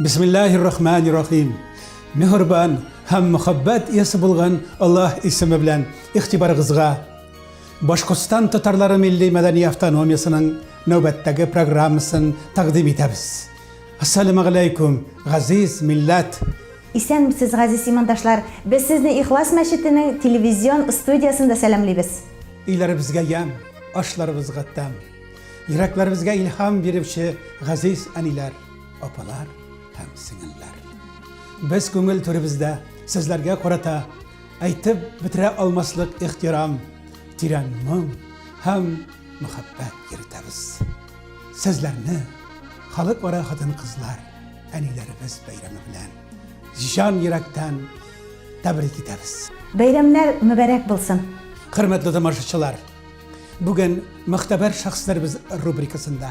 Бисмиллахир рахманир рахим. Мехербан һәм мөхәббәт иясе булган Аллаһ исеме белән игътибарыгызга Башкортстан татарлары милли мәдәни автономиясенең нәүбәттәге программасын тәкъдим итәбез. Ассаламу алейкум, газиз милләт! Исәнмесез, газиз имандашлар! Без сезне Ихлас мәчетенең телевизион студиясендә сәламлибез. Өйләребезгә ямь, ашларыбызга тәм. Йөрәкләребезгә илһам бирүче газиз әниләр! Апалар һәм сеңелләр. Без күңел түребездә сезләргә карата әйтеп бетерә алмаслык ихтирам, тирән моң һәм мәхәббәт йөртәбез. Сезләрне халыкара хатын-кызлар әниләребез бәйрәме белән җан йөрәктән тәбрик итәбез. Бәйрәмнәр мөбәрәк булсын! Хөрмәтле тамашачылар, бүген Мөхтәбәр шәхесләребез рубрикасында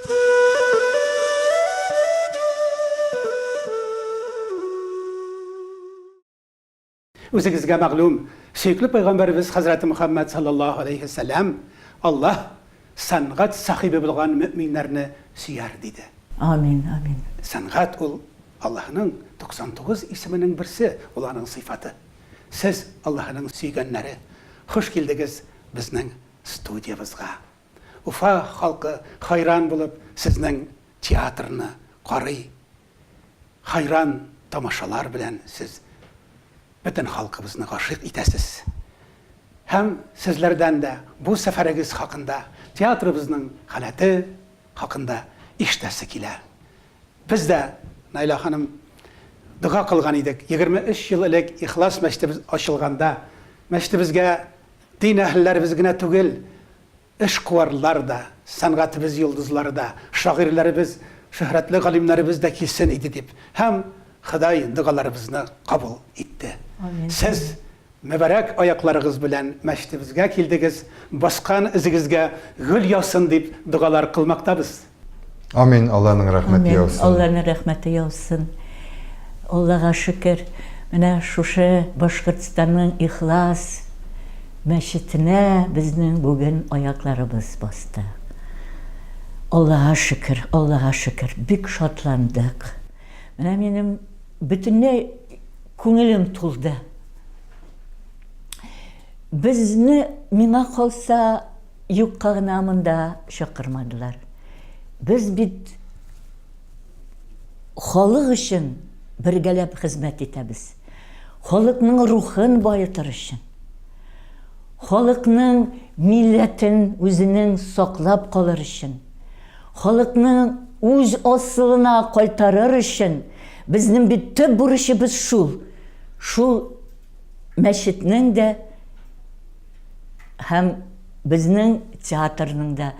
Үзегезгә мәгълүм, сөекле пәйгамбәребез хәзрәте Мөхәммәд саллаллаһу галәйһи ва сәлләм, Аллаһ сәнгать сахибе булган мөэминнәрне сөяр, диде. Амин, амин. Сәнгать ул, Аллаһның 99 исеменең берсе, ул аның сыйфаты. Сез, Аллаһның сөйгәннәре, хуш килдегез безнең студиябызга! Уфа халкы хайран булып сезнең театрны карый, хайран тамашалар белән сез бөтен халкыбызны гашыйк итәсез. Һәм сезләрдән дә бу сәфәрегез хакында, театрыбызның халәте хакында ишетәсе килә. Без дә, Наилә ханым, дога кылган идек, егерме өч ел элек Ихлас мәчетебез ачылганда, мәчетебезгә, Дин әһелләребез генә түгел, эшкуарлар да, сәнгатебез йолдызлары да, шагыйрьләребез, шөһрәтле галимнәребез дә килсен иде, дип һәм Ходай догаларыбызны кабул итте. Амин. Сез мөбарәк аякларыгыз белән мәчетебезгә килдегез, баскан эзегезгә гөл яусын дип догалар кылмактабыз. Амин, Алланың рәхмәте Амин, яусын. Алланың рәхмәте яусын. Аллага шөкер, менә шушы Башкортстанның Ихлас мәчетенә безнең бүген аякларыбыз басты. Аллага шөкер, Аллага шөкер, бик шатландык. Менә минем бөтенләй күңелем тулды. Безне, миңа калса, юкка гына монда чакырмадылар. Без бит халык өчен бергәләп хезмәт итәбез. Халыкның рухын баетыр өчен. Халыкның милләтен үзенең саклап калыр өчен. Халыкның үз асылына кайтарыр өчен безнең бит төп бурычыбыз шул. Шул мәчетнең дә Һәм безнең театрның да,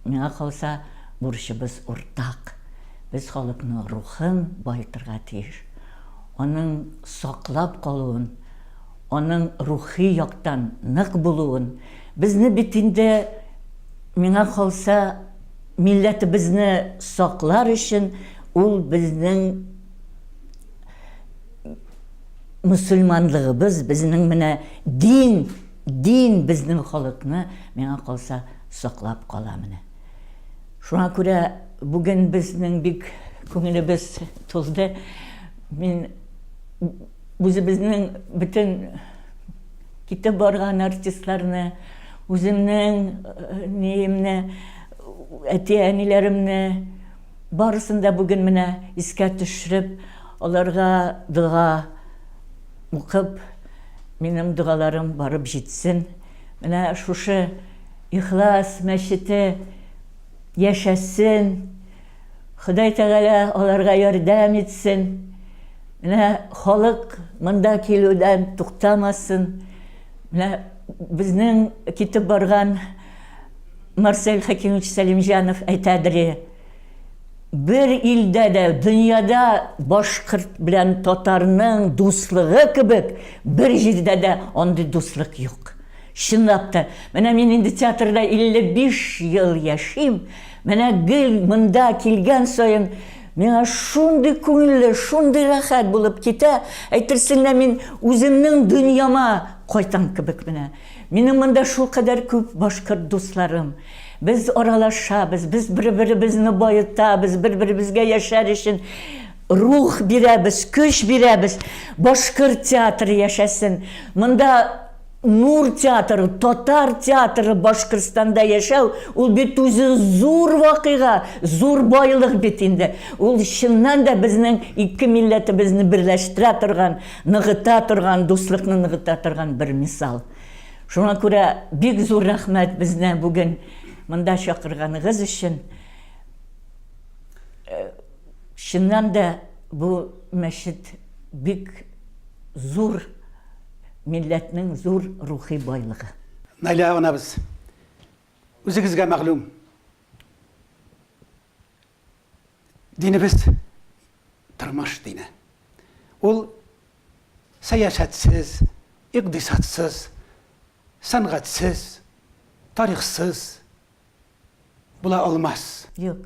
миңа калса, бурычыбыз уртак. Без халыкның рухын баетырга тиеш. Аның саклап калуын, аның рухи яктан нык булуын. Безне бит инде, миңа калса, милләтебезне саклар өчен ул безнең Мөселманлыгыбыз безнең менә дин, дин безнең халыкны, миңа калса, саклап кала менә. Шуңа күрә бүген безнең бик күңелебез тулды. Мин үзебезнең бөтен китеп барган артистларны, үземнең ниемне, әти-әниләремне, Барысын да бүген менә искә төшереп, аларга дога укып, минем догаларым барып җитсен. Менә шушы Ихлас мәчете яшәсен. Ходай Тәгалә аларга ярдәм итсен. Менә халык монда килүдән туктамасын. Менә безнең китеп барган Марсель Хәкимович Сәлимҗанов әйтәдере, бер илдә дә, дөньяда башкорт белән татарның дуслыгы кебек, бер җирдә дә андый дуслык юк. Чынлап та, менә мин инде театрда 55 ел яшим, менә гел монда килгән саен, миңа шундый күңелле, шундый рәхәт булып китә, әйтерсең лә мин үземнең дөньяма кайтам кебек менә. Минем монда шулкадәр күп башкорт дусларым. Без аралашабыз, без бер-беребезне баетабыз, бер-беребезгә яшәр өчен рух бирәбез, көч бирәбез. Башкорт театры яшәсен! Монда Нур театры, татар театры Башкортстанда яшәү, ул бит үзе зур вакыйга, зур байлык бит инде. Ул чыннан да безнең ике милләтебезне берләштерә торган, Ныгыта торган, дуслыкны ныгыта торган бер мисал. Шуңа күрә бик зур рәхмәт безне бүген монда чакырганыгыз өчен. Чыннан да бу мәчет бик зур милләтнең зур рухи байлыгы. Наилә анабыз, үзегезгә мәгълүм, Динебез тормыш дине. Ул сәясәтсез, икъдисадсыз, сәнгатьсез, тарихсыз була алмас. Юк.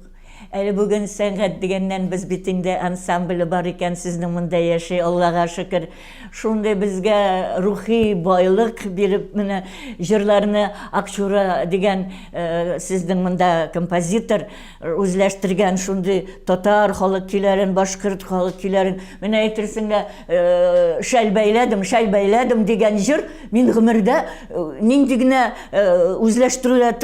Әле бүген сәнгать дигәннән без бит инде ансамбле бар икән, сезнең монда яши, Аллага шөкер. Шундый безгә рухи байлык биреп менә җырларны Акчура дигән сезнең монда композитор, үзләштергән шундый татар халык көйләрен, башкорт халык көйләрен. Менә әйтерсең лә э, шәл бәйләдем, шәл бәйләдем дигән җыр мин гомердә э, нинди генә э, үзләштерүләр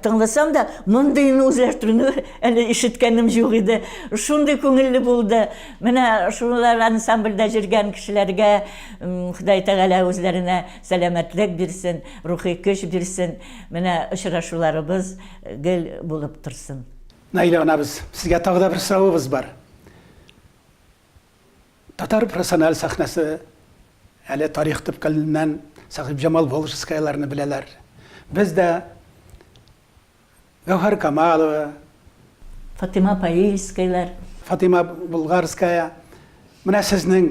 тыңласам да, мондыйны үзләштерүне әле ишеткәнем юк иде. Шундый күңелле булды. Менә шулар ансамбльдә җөргән кешеләргә Ходай Тәгалә үзләренә сәламәтлек бирсен, рухи көч бирсен. Менә очрашуларыбыз Гел булып торсын. Наилә анабыз, сезгә тагы да бер соравыбыз бар. Татар профессиональ сәхнәсе әле тарих төпкеленнән Сәхибҗамал Волжскаяларны беләләр. Без дә Гәүһәр Камалова, Фатыйма Паильскайлар. Фатыйма Болгарская, менә сезнең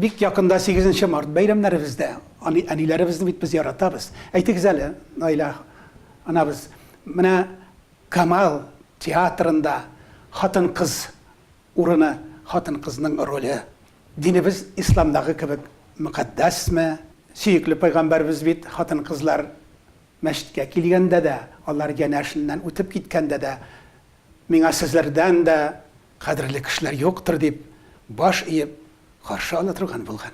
Бик якында сигезенче март бәйрәмнәребез дә. Аны әниләребезне бит без яратабыз. Әйтегез әле, Наилә анабыз, менә Камал театрында хатын-кыз урыны, хатын-кызның роле динебез исламдагы кебек мөкатдәсме? Сөекле пәйгамбәребез бит хатын-кызлар мәчеткә килгәндә дә, алар янәшеннән үтеп киткәндә дә, Миңа сезләрдән дә, Кадерле кешеләр юктыр дип, баш иеп каршы ала торган булган.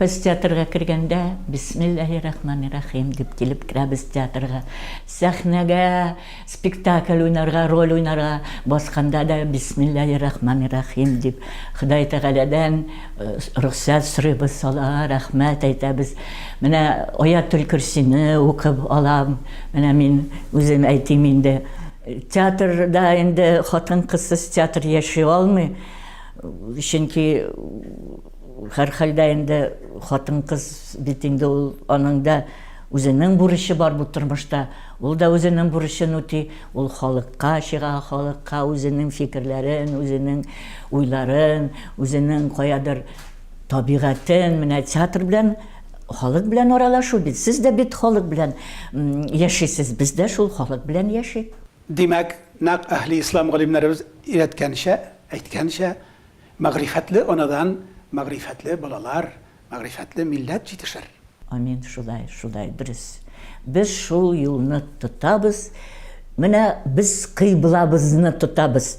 Без театрга кергәндә, Бисмиллаһи рахмани рахим дип килеп керәбез театрга. Сәхнәгә спектакль уйнарга, роль уйнарга басканда да Бисмиллаһи рахмани рахим дип, Ходай Тәгаләдән рөхсәт сорыйбыз, Аллага рәхмәт әйтәбез. Менә Аятел-көрсине укып алам. Менә мин үзем әйтим инде. Театрда инде хатын-кызсыз театр яши алмый. Чөнки һәрхәлдә инде хатын-кыз бит инде ул аның да үзенең бурычы бар бу тормышта. Ул да үзенең бурычын үти, ул халыкка чыга, халыкка үзенең фикерләрен, үзенең уйларын, үзенең каядыр табигатен, менә театр белән Халык белән аралашу бит. Сез дә бит халык белән яшисез, без дә шул халык белән яшик. Димәк, нәкъ әһле ислам галимнәребез өйрәткәнчә, әйткәнчә, мәгърифәтле анадан мәгърифәтле балалар, мәгърифәтле милләт җитешер. Амин, шулай, шулай, дөрес. Без шул юлны тотабыз. Менә без кыйблабызны тотабыз.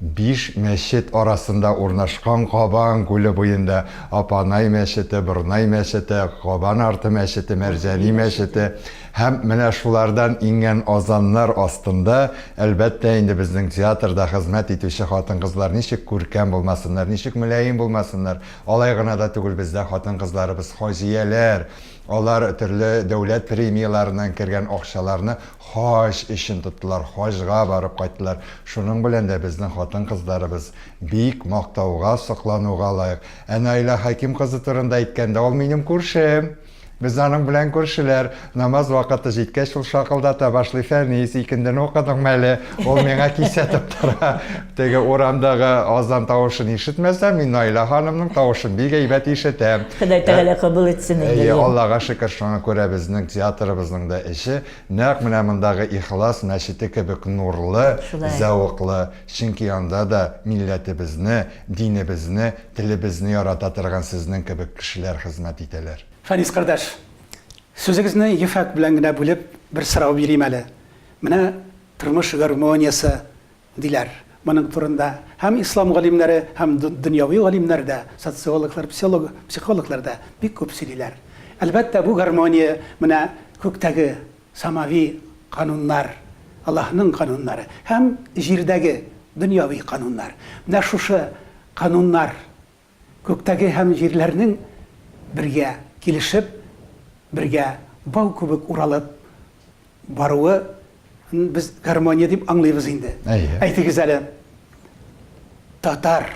Биш мәчет арасында урнашкан Кабан күле буенда Апанай мәчете, Борнай мәчете, Кабан арты мәчете, Мәрҗани мәчете һәм менә шулардан иңгән азаннар астында, әлбәттә инде, безнең театрда хезмәт итүче хатын-кызлар ничек күркәм булмасыннар, ничек мөлаем булмасыннар. Алай гына да түгел, бездә хатын-кызларыбыз хаҗияләр, алар төрле дәүләт премияләреннән кергән акчаларны Хаҗ өчен тоттылар, хаҗга барып кайттылар. Шуның белән дә безнең хатын-кызларыбыз бик мактауга, соклануга лаек. Ә Наилә Хәким кызы турында әйткәндә, ул минем күршем. Без аның белән күршеләр. Намаз вакыты җиткәч, ул шакылдата башлый, Фәнис, икендене укыдыңмы әле? Ул миңа кисәтеп тора. Теге урамдагы азан тавышын ишетмәсәм, мин Наилә ханымның тавышын бик әйбәт ишетәм. Ходай Тәгалә кабул итсен инде. Әйе, Аллага шөкер, шуңа күрә безнең театрыбызның да эче нәкъ менә мондагы Ихлас мәчете кебек нурлы, зәвыклы, чөнки анда да милләтебезне, динебезне, телебезне ярата торган сезнең кебек кешеләр хезмәт итәләр. Фәнис кардәш, сүзегезне ефәк белән генә бүлеп, бер сорау бирим әле. Менә тормыш гармониясе диләр моның турында һәм ислам галимнәре, һәм дөньяви галимнәр дә, социологлар, психологлар да бик күп сөйлиләр. Әлбәттә, бу гармония менә күктәге самави кануннар, Аллаһының кануннары, һәм җирдәге дөньяви кануннар. Менә шушы кануннар Күктәге һәм җирләрнең бергә килешеп, бергә бау кебек уралып баруы н без гармония дип аңлыйбыз инде. Әйе. Әйтегез әле, татар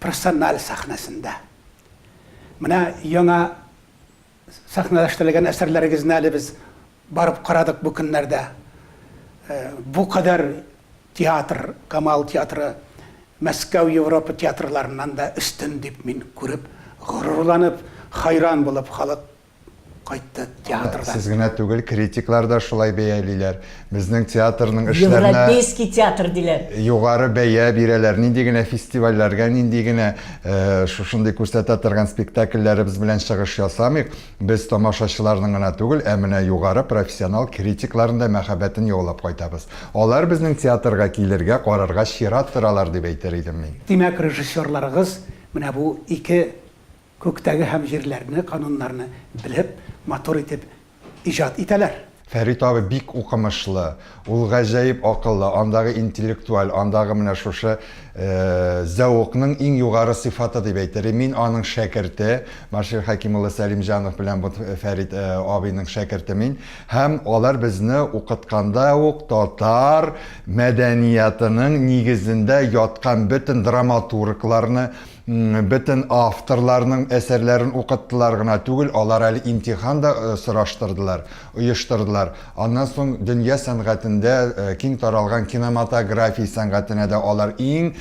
профессиональ сәхнәсендә менә яңа Сәхнәләштерелгән әсәрләрегезне әле без барып карадык бу көннәрдә. Бу кадәр театр, Камал театры Мәскәү, Европа театрларыннан да өстен дип мин күреп, горурланып, хайран булып халык кайтты театрдан. Сез генә түгел, критиклар да шулай бәялиләр. Безнең театрның эшләренә Европейский театр диләр. Югары бәя бирәләр. Нинди генә фестивальләргә, нинди генә э, шушындый күрсәтә торган спектакльләребез белән чыгыш ясамыйк. Без тамашачыларның гына түгел, ә менә югары профессионал критикларның да мәхәббәтен яулап кайтабыз. Алар безнең театрга килергә, карарга чират торалар дип әйтер идем мин. Димәк, режиссерларыгыз менә бу ике Күктәге һәм җирләрне, кануннарны белеп, матур итеп иҗат итәләр. Фәрит абый бик укымышлы, ул гаҗәеп акыллы, андагы интеллектуаль, андагы менә шушы зәвыкның иң югары сыйфаты дип әйтер, мин аның шәкерте, Маршир Хәким улы Сәлимҗанов белән бу Фәрит абыйның шәкерте мин, һәм алар безне укытканда ук татар мәдәниятының нигезендә яткан бөтен драматургларны, Бөтен авторларның әсәрләрен укыттылар гына түгел, алар әле имтихан да сораштырдылар, оештырдылар. Аннан соң дөнья сәнгатендә киң таралган киноматография сәнгатенә дә алар иң,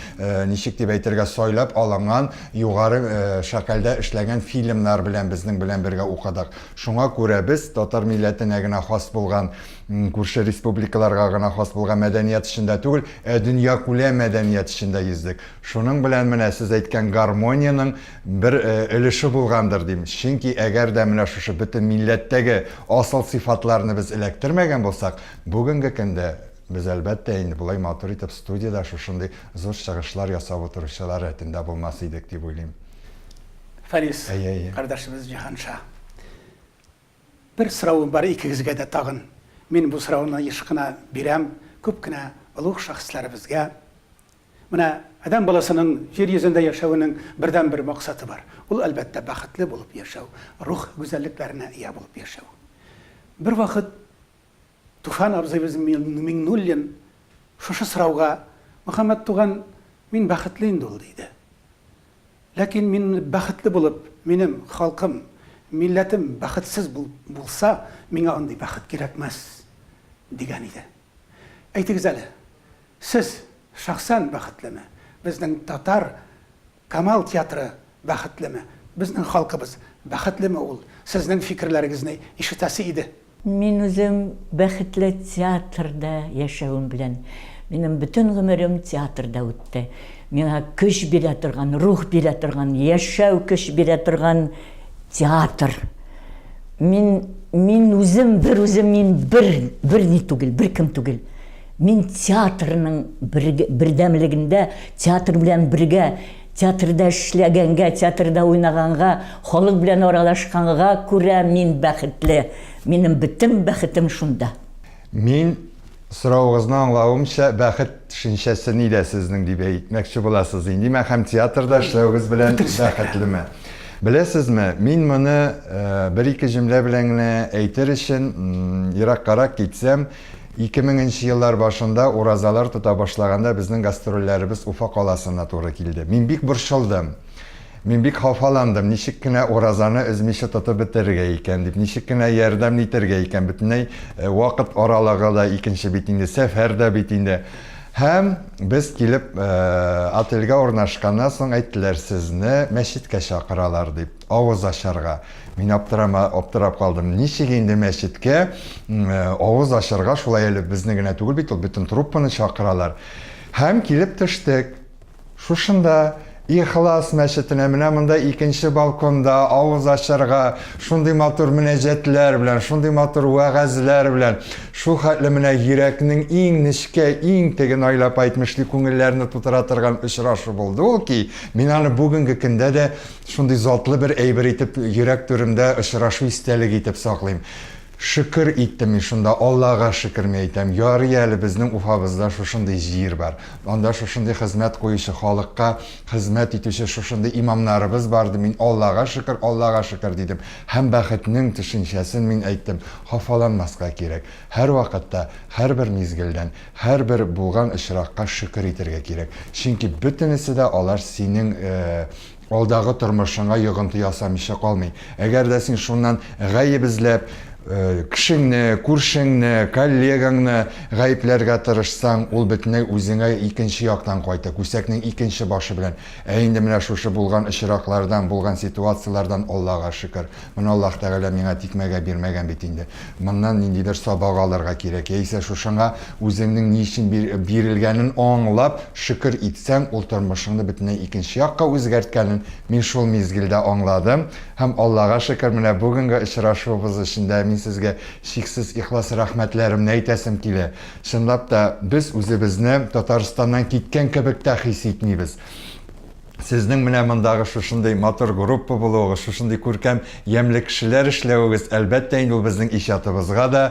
ничек дип әйтергә, сайлап алынган, югары шәкәлдә эшләгән фильмнар белән безнең белән бергә укыдык. Шуңа күрә без татар милләтенә генә хас булган, күрше республикаларга гына хас булган мәдәният эчендә түгел, ә дөньякүләм мәдәният эчендә йөздек. Шуның белән менә сез әйткән гармониянең бер өлеше булгандыр, дим. Чөнки әгәр дә менә шушы бөтен милләттәге асыл сыйфатларны без эләктермәгән булсак, бүгенге көндә без, әлбәттә инде, болай матур итеп студиядә шушындый зур чыгышлар ясап утыручылар рәтендә булмас идек, дип уйлыйм. Фәнис кардәшебез Җиһанша. Бер соравым бар икегезгә дә тагын. Мин бу сорауны еш кына бирәм күп кенә олуг шәхесләребезгә. Менә адәм баласының җир йөзендә яшәвенең бердәнбер максаты бар. Ул, әлбәттә, бәхетле булып яшәү, рух гүзәллекләренә ия булып яшәү. Бервакыт Туфан абзыйбыз Миңнуллин шушы сорауга, Мөхәммәт туган, мин бәхетле инде ул, диде. Ләкин мин бәхетле булып, минем халкым, милләтем бәхетсез булса, миңа андый бәхет кирәкмәс, дигән иде. Әйтегез әле, сез шәхсән бәхетлеме? Безнең татар Камал театры бәхетлеме? Безнең халкыбыз бәхетлеме ул? Сезнең фикерләрегезне ишетәсе иде. Мин үзем бәхетле театрда яшәвем белән. Минем бөтен гомерем театрда үтте. Миңа көч бирә торган, рух бирә торган, яшәү көч бирә торган театр. Мин, мин үзем, берүзем мин бер, берни түгел, беркем түгел. Мин театрның бердәмлегендә, театр белән бергә, театрда эшләгәнгә, театрда уйнаганга, халык белән аралашканга күрә мин бәхетле. Минем бөтен бәхетем шунда. Мин, соравыгызны аңлавымча, бәхет төшенчәсе нидә сезнең дип әйтмәкче буласыз. Ин димәк, һәм театрда эшләвегез белән бәхетлеме? Беләсезме, мин моны бер-ике җөмлә белән генә әйтер өчен, ераккарак китсәм, Ике меңенче еллар башында уразалар тота башлаганда безнең гастрольләребез Уфа каласына туры килде. Мин бик борчылдым. Мин бик хафаландым, ничек кенә уразаны өзмичә тотып бетерергә икән дип, ничек кенә ярдәм нитәргә икән, бөтенләй вакыт аралыгы да икенче бит инде, сәфәр дә бит инде. Һәм без килеп отельгә урнашканнан соң әйттеләр, сезне мәчеткә чакыралар дип. Авыз ачарга. Мин аптырама, аптырап калдым. Ничек инде мәчеткә м, э, авыз ачарга, шулай әле безне генә түгел бит ул, бөтен труппаны чакыралар. Һәм килеп төштек. Шушында, Ихлас мәчетенә, менә монда икенче балконда, авыз ачарга, шундый матур мөнәҗәтләр белән, шундый матур вәгазьләр белән, шул хәтле менә йөрәкнең иң нечкә, иң теге найлап әйтмешли күңелләрне тутыра торган очрашу булды ул ки, мин аны бүгенге көндә дә Шундый затлы бер әйбер итеп йөрәк түремдә очрашу истәлеге итеп саклыйм. Шөкер иттем мин шунда, Аллага шөкер, ми әйтәм. Ярый әле безнең Уфабызда шушындый җир бар. Анда шушындый хезмәт куючы, халыкка хезмәт итүче шушындый имамнарыбыз бар ди, мин Аллага шөкер, Аллага шөкер дидем. Һәм бәхетнең төшенчәсен мин әйттем. Хафаланмаска кирәк. Һәрвакытта, һәрбер мизгелдән, һәрбер булган очракка шөкер итергә кирәк. Чөнки бөтенесе дә алар синең алдагы тормышыңа йогынты ясамыйча калмый. Әгәр дә син шуннан гаеп эзләп, кешеңне, күршеңне, коллегаңны гаепләргә тырышсаң, ул бөтенләй үзеңә икенче яктан кайта, күсәкнең икенче башы белән. Ә инде менә шушы булган очраклардан, булган ситуацияләрдән Аллага шөкер. Моны Аллаһ Тәгалә миңа тикмәгә бирмәгән бит инде. Моннан ниндидер сабак алырга кирәк, яисә шушыңа үзеңнең ни өчен бирелгәнен аңлап шөкер итсәң, ул тормышыңны бөтенләй икенче якка үзгәрткәнен мин шул мизгелдә аңладым һәм, Аллага шөкер, менә бүгенге очрашуыбыз өчен дә мин сезгә чиксез ихлас рәхмәтләремне әйтәсем килә. Чынлап та, без үзебезне Татарстаннан киткән кебек тә хис итмибез. Сезнең менә мондагы шушындый матур группа булуыгыз, шушындый күркәм, ямьле кешеләр эшләвегез, әлбәттә инде, ул безнең иҗатыбызга да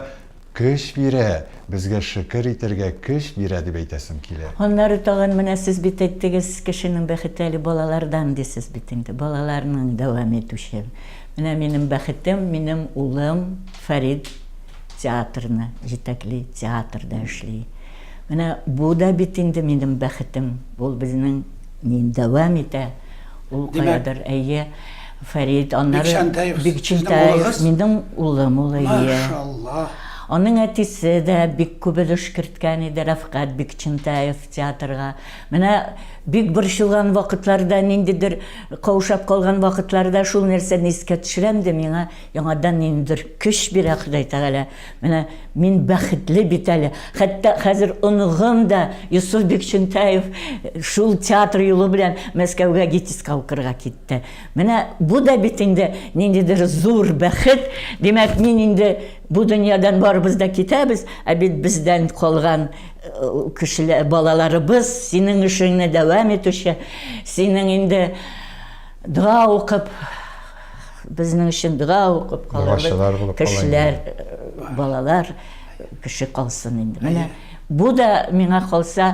көч бирә, безгә шөкер итәргә көч бирә, дип әйтәсем килә. Аннары тагын менә сез бит әйттегез, кешенең бәхете әле балалардан, дисез бит инде. Балаларның дәвам итүче. Менә минем бәхетем, минем улым Фәрит театрны җитәкли, театрда эшли. Менә бу да бит инде минем бәхетем. Ул безнең. Мин дәвам итә. Ул каядыр, әйе. Фәрит, аннары Бикчәнтәев, минем улым ул, әйе. Аның әтисе дә бик күп өлеш керткән иде, Рәфкать Бикчәнтәев, театрга. Менә бик борчылган вакытларда, ниндидер каушап калган вакытларда шул нәрсәне искә төшерәм дә, миңа яңадан ниндидер көч бирә Ходай Тәгалә. Менә мин бәхетле бит әле. Хәтта хәзер оныгым да, Йосыф Бикчентаев, шул театр юлы белән Мәскәүгә ГИТИСка укырга китте. Менә бу да бит инде ниндидер зур бәхет. Димәк, мин инде бу дөньядан барыбыз да китәбез, ә бит бездән калган кешеләр, балаларыбыз, синең эшеңне дәвам итүче, синең инде дога укып, Безнең өчен дога укып калырлык кешеләр, балалар кеше калсын инде. Менә бу да миңа калса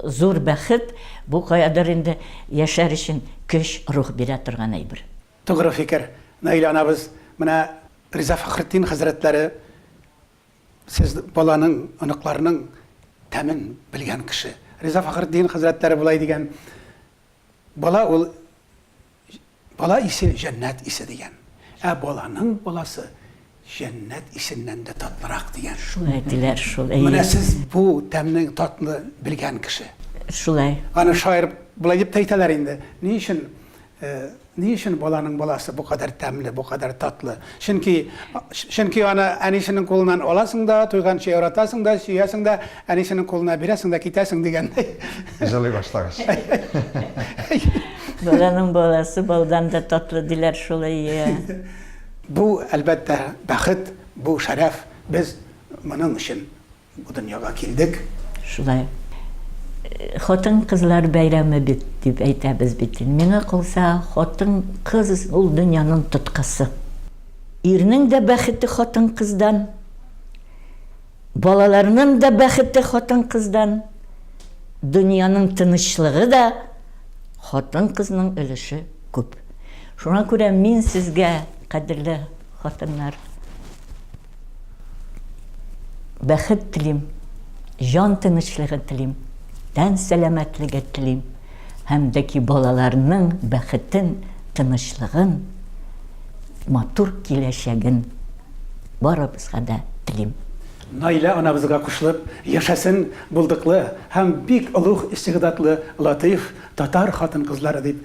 зур бәхет, бу каядыр инде яшәр өчен көч, рух бирә торган әйбер. Тугры фикер, Наилә анабыз. Менә Риза Фәхретдин хәзрәтләре сез баланың, оныкларның тәмен белгән кеше. Риза Фәхретдин хәзрәтләре болай дигән, Бала ул Бала исе җәннәт исе дигән. Ә баланың баласы җәннәт исеннән дә татлырак дигән. Шуны әйтеләр шул, әйе. Менә сез бу тәмне, татны белгән кеше. Шулай. Аны шаир болай дип тә әйтәләр инде, Ни өчен, ни өчен баланың баласы бу кадәр тәмле, бу кадәр татлы? Чөнки, чөнки аны әнисенең кулыннан аласың да, туйганчы яратасың да, сөясең дә, әнисенең кулына бирәсең дә китәсең дигәндәй. Җылый башлагач. Баланың баласы балдан да татлы диләр шулай, иә. Бу, әлбәттә, бәхет, бу шәрәф, без моның өчен Бу дөньяга килдек. Шулай. Хатын-кызлар бәйрәме бит, дип әйтәбез бит. Миңа калса, хатын-кыз ул дөньяның тоткасы. Ирнең дә бәхете хатын-кыздан, балаларның да бәхете хатын-кыздан, дөньяның тынычлыгы да хатын-кызның өлеше күп. Шуңа күрә мин сезгә, кадерле хатыннар. Бәхет телим, җан тынычлыгы телим, тән сәламәтлеге телим һәм дә ки балаларның бәхетен, тынычлыгын, матур киләчәген барыбызга да телим. Наилә анабызга кушылып, яшәсен булдыклы һәм бик олуг истигъдадлы Латыйф татар хатын-кызлары дип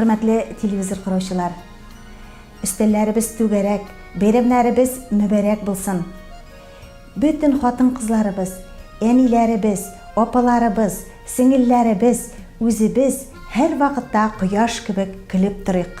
Хөрмәтле телевизор караучылар, өстәлләребез түгәрәк, бәйрәмнәребез мөбәрәк булсын. Бөтен хатын-кызларыбыз, әниләребез, апаларыбыз, сеңелләребез, үзебез һәр вакытта кояш кебек көлеп торыйк.